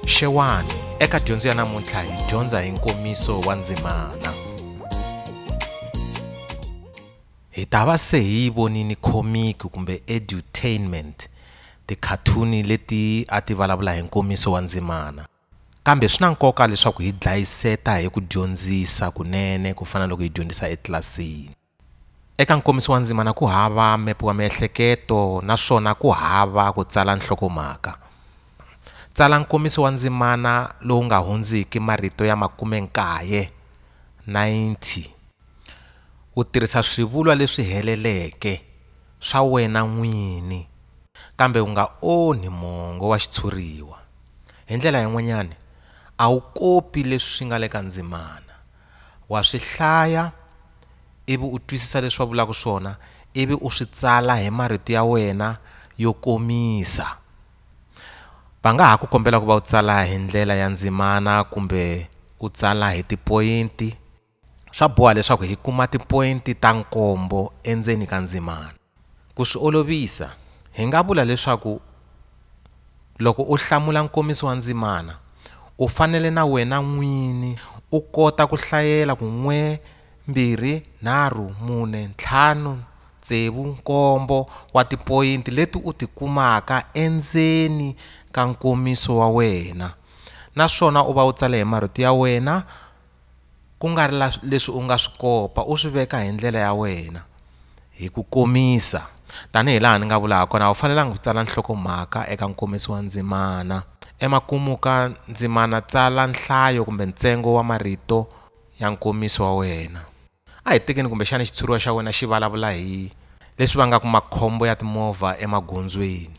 xewani eka dyondzo ya namuntlha hi dyondza hi nkomiso wa ndzimana hi ta va se hi yi vonini khomiki kumbe edutainment tikhathuni leti a ti vulavula hi nkomiso wa ndzimana kambe swi na nkoka leswaku hi dlayiseta hi ku dyondzisa kunene ku fana loko hi dyondzisa etlilasini Eka nkomiso wa ndzimana ku hava mepe wa miehleketo naswona ku hava ku tsala nhlokomhaka. Tsala nkomiso wa ndzimana lowu nga hundziki marito ya makume nkaye, 90, u tirhisa swivulwa leswi heleleke swa wena n'wini kambe u nga onhi mongo wa xitshuriwa. Hi ndlela yin'wanyana, a wu kopi leswi nga le ka ndzimana Wa swi hlaya ivi u twisisa leswi va vulaka swona ivi u swi tsala hi marito ya wena yo komisa. Va nga ha ku kombela ku va u tsala hi ndlela ya ndzimana kumbe u tsala hi tipoyinti. Swa boha leswaku hi kuma tipoyinti ta nkombo endzeni ka ndzimana. Ku swi olovisa, hi nga vula leswaku loko u hlamula nkomiso wa ndzimana, u fanele na wena n'wini u kota ku hlayela ku n'we, mbirhi, nharhu, mune, ntlhanu, tsevu, nkombo wa tipoyinti leti u ti kumaka endzeni ka nkomiso wa wena naswona u va u tsale hi marito ya wena. ku nga ri leswi u nga swi kopa u swi veka hi ndlela ya wena hi ku komisa tanihi laha ni nga vula ha kona a wu fanelanga ku tsala nhlokomhaka eka nkomiso wa ndzimana emakumu ka ndzimana tsala nhlayo kumbe ntsengo wa marito ya nkomiso wa wena A hi tekeni kumbexana xitshuriwa xa wena xi vulavula hi leswi vangaka makhombo ya timovha emagondzweni.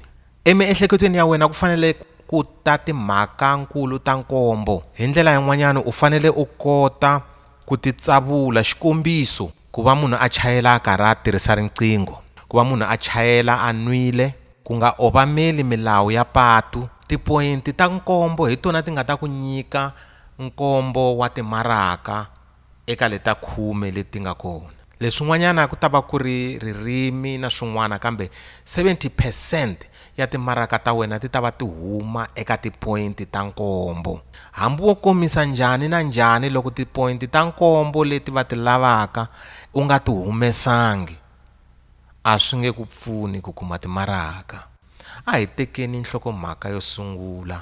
Emiehleketweni ya wena ku fanele ku ta timhaka-nkulu ta nkombo. Hi ndlela yin'wanyana u fanele u kota ku titsavula, xikombiso, ku va munhu a chayela a karhi a tirhisa riqingho, ku va munhu a chayela a nwile, ku nga obameli milawu ya patu. Tipoyinti ta nkombo hi tona ti nga ta ku nyika nkombo wa timaraka. eka leta khume leti nga kona. Leswin'wanyana ku ta va ku ri ririmi na swin'wana kambe 70 percent ya timaraka ta wena ti ta va ti huma eka tipoyinti ta nkombo. Hambi wo komisa njhani na njhani loko tipoyinti ta nkombo leti va ti lavaka u nga ti humesangi, a swi nge ku pfuni ku kuma timaraka. A hi tekeni nhlokomhaka yo sungula.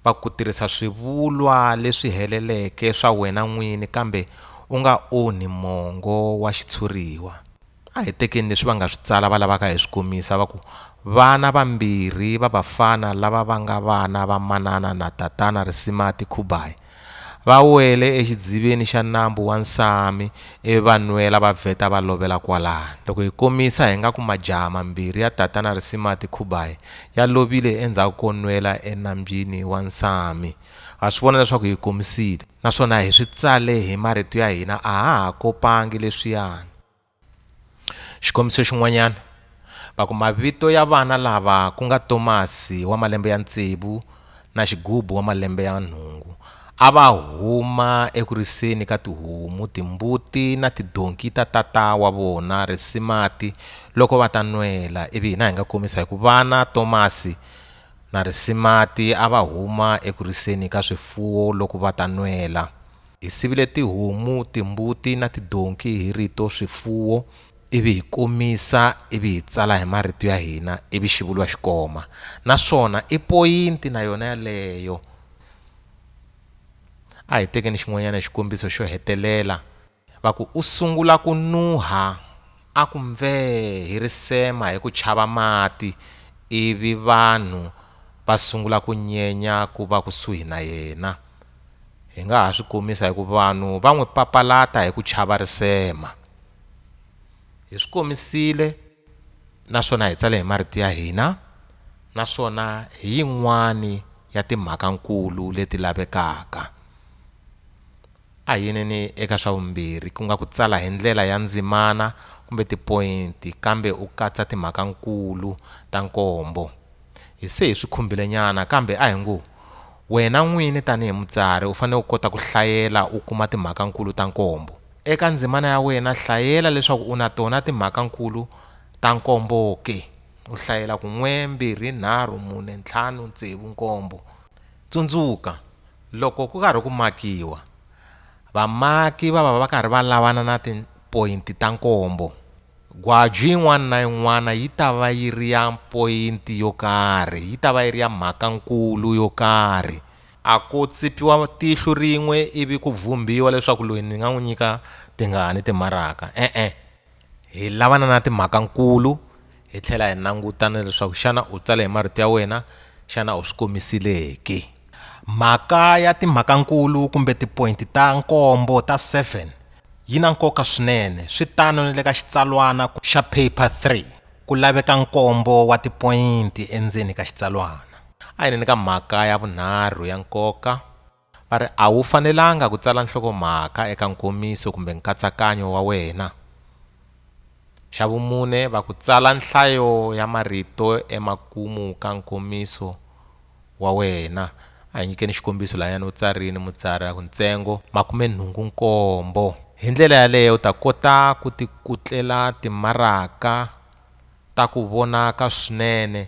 va ku tirhisa swivulwa leswi heleleke swa wena n'wini kambe u nga onhi mongo wa xitshuriwa. A hi tekeni leswi va nga swi tsala va lavaka hi swi komisa va ku, Vana vambirhi va vafana lava va nga vana va Manana na Tatana Risimati Khubayi Va wele exidziveni xa nambu wa Nsami ivi va nwela va vheta va lovela kwalano. Loko hi komisa hi nga ku majaha mambirhi ya Tatana Risimati Khubayi ya lovile endzhaku ko nwela enambyini wa Nsami. Ha swi vona leswaku hi komisile naswona hi swi tsale hi marito ya hina a ha ha kopangi leswiyani. Xikombiso xin'wanyana, va ku mavito ya vana lava ku nga Tomasi wa malembe ya tsevu na Xigubu wa malembe ya nhungu a va huma eku riseni ka tihomu, timbuti na tidonki ta tata wa vona Risimati loko va ta nwela ivi hina hi nga komisa hi ku vana Tomasi na Risimati a va huma eku riseni ka swifuwo loko va ta nwela. Hi sivile tihomu, timbuti na tidonki hi rito swifuwo ivi hi komisa ivi hi tsala hi marito ya hina ivi xi vuriwa xi koma. Naswona i poyinti na yona yaleyo. A hi tekeni xin'wanyana xikombiso xo hetelela. Va ku, U sungula ku nuha, a ku mvee hi risema hi ku chava mati ivi vanhu va sungula ku nyenya ku va kusuhi na yena. hi nga ha swi komisa hi ku vanhu va n'wi papalata hi ku chava risema. Hi swi komisile naswona hi tsale hi marito ya hina naswona hi yin'wana ya timhaka-nkulu leti lavekaka. A hi yineni eka swa vumbirhi, ku nga ku tsala hi ndlela ya ndzimana kumbe tipoyinti kambe u katsa timhaka-nkulu ta nkombo. Hi se hi swi khumbilenyana kambe a hi ngo, wena n'wini tanihi mutsari u fanele u kota ku hlayela u kuma timhaka-nkulu ta nkombo. Eka ndzimana ya wena hlayela leswaku u na tona timhaka-nkulu ta nkombo ke. U hlayela ku n'we, mbirhi, nharhu, mune, ntlhanu, tsevu, nkombo. Tsundzuka, loko ku karhi ku makiwa, vamaki va va va karhi va lavana na. poyinti ta nkombo. Gwaju yin'wana na yin'wana yi ta va yi ri ya poyinti yo karhi, yi ta va yi ri ya mhaka-nkulu yo karhi. A ku tsipiwa tihlo rin'we ivi ku vhumbhiwa leswaku loyi ni nga n'wi nyika tingani timaraka. E-e. Hi lavana na timhaka-nkulu, hi tlhela hi languta na leswaku xana u tsale hi marito ya wena, xana u swi komisile ke. Mhaka ya timhakankulu kumbe tipointi ta nkombo ta 7 yi na nkoka swinene, swi tano ni le ka xitsalwana xa Paper 3, ku laveka nkombo wa tipointi endzeni ka xitsalwana. A hi neni ka mhaka ya vunharhu ya nkoka, va ri, A wu fanelanga ku tsala nhlokomhaka eka nkomiso kumbe nkatsakanyo wa wena. Xa vumune, va ku tsala nhlayo ya marito emakumu ka nkomiso wa wena. A hi nyikeni xikombiso lahayani u tsarini mutsari a ku ntsengo makumenhungu nkombo. Hi ndlela yaleyo u ta kota ku tikutlela timaraka ta ku vonaka swinene.